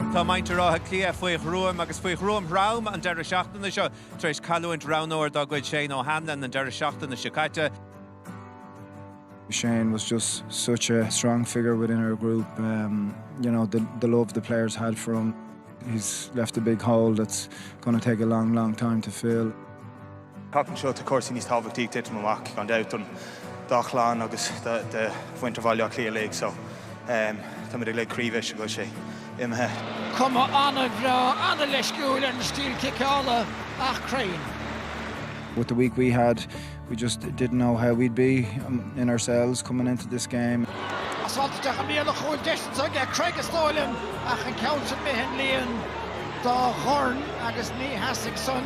Tá muintir Átha Cliath faoi ghruaim agus faoi ghruaim throm an deireadh seachtaine seo tar éis cailliúint roghnóir dá gcuid, Shane O'Hanlon, an deireadh seachtaine seo caite. Shane was just such a strong figure within our group. Um, you know, the, the love the players had for him. He's left a big hole that's going to take a long, long time to fill. Tseachtain seo tá cúrsaí níos tábhachtaí ag titim amach, gan dabht, don dá chlann agus do mhuintir Bhaile Átha Cliath uilig, so táimid uilig croíbhriste go bhfuil sé imithe. Cuma an-bhreá, an-leisciúil ar an stíl ciceála ach cruinn. With the week we had, we just didn't know how we'd be in ourselves coming into this game. Pas áititheach an Niallach a bhfuil deis iontach ag Cregg is dóigh liom, ach an ceann sin, b'shin líon dá dhorn agus ní sheasfaidh san.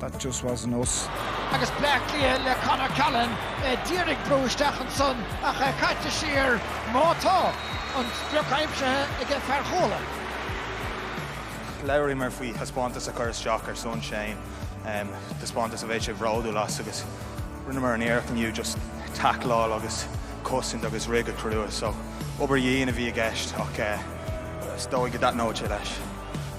That just wasn't us. Agus Bleá Cliath le Con O'Callaghan, d'iarraidh brú isteach ansan ach caite siar. Má tá an sprioc aimsithe ag fear Chuala. Labhraíomar faoi thaispeántas a chur isteach ar son Shane, taispeántas a bheadh sé bródúil as agus rinneamar an iarracht inniu just tackleáil agus cosaint agus rith go crua so obair dhian a bhí i gceist ach is dóigh go dtaitneodh sé leis.